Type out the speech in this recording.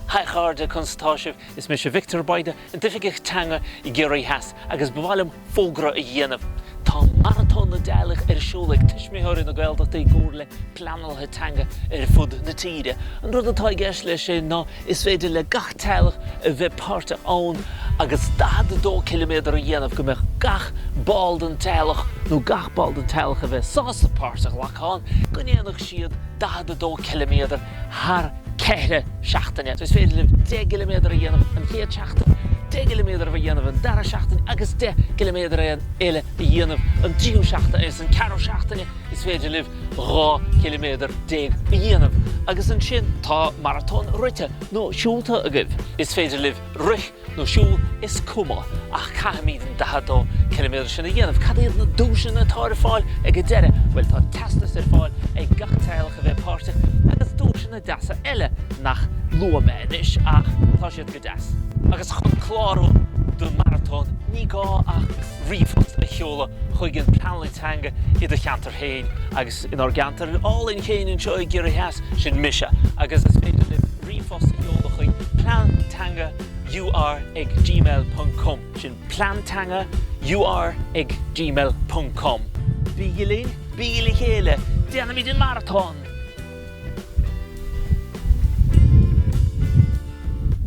Hi a chairde, conas atá sibh? Is mise Victor Bayda, an tOifigeach Teanga i gCiarraí Theas agus ba mhaith liom fógra a dhéanamh. Tá Maratón na dTeaghlach ar siúl ag Tuismitheoirí na Gaeltachta i gcomhair le Pleanálaithe Teanga ar fud na tíre. An rud atá i gceist leis sin ná is féidir le gach teaghlach a bheith páirteach ann agus 42 ciliméadar a dhéanamh go mbeadh gach ball den teaghlach nó gach ball den teaghlach a bheidh sásta páirt a ghlacadh ann go ndéanfadh siad 42 ciliméadar thar ceithre seachtaine. Is féidir libh deich gciliméadar a dhéanamh an chéad seachtain, deich gciliméadar a dhéanamh an dara seachtain agus deich gciliméadar a eile a dhéanamh an tríú seachtain agus an ceathrú seachtaine is féidir libh dhá chiliméadar déag a dhéanamh agus ansin tá maratón rite nó siúlta agaibh is féidir libh rith nó siúl, is cuma, ach caithfimid an 42 ciliméadar sin a dhéanamh. Cad iad na duaiseanna atá ar fáil ag an deireadh? Bhuel, tá teastas ar fáil ag gach teaghlach a bheidh páirteach, agus duaiseanna deasa eile nach luafaidh mé anois, ach tá siad go deas. Agus chun clárú don maratón, ní gá ach ríomhphost a sheoladh chuig an Pleanálaí Teanga i do cheantar féin, agus inár gceantar álainn féin anseo i gCiarraí Theas, sin mise, agus is féidir libh, ríomhphost a sheoladh chuig, plean teanga UR ag gmail ponc com. Sin plean teanga UR ag gmail ponc com. Bígí linn, bígí le chéile, déanfaimid an maratón!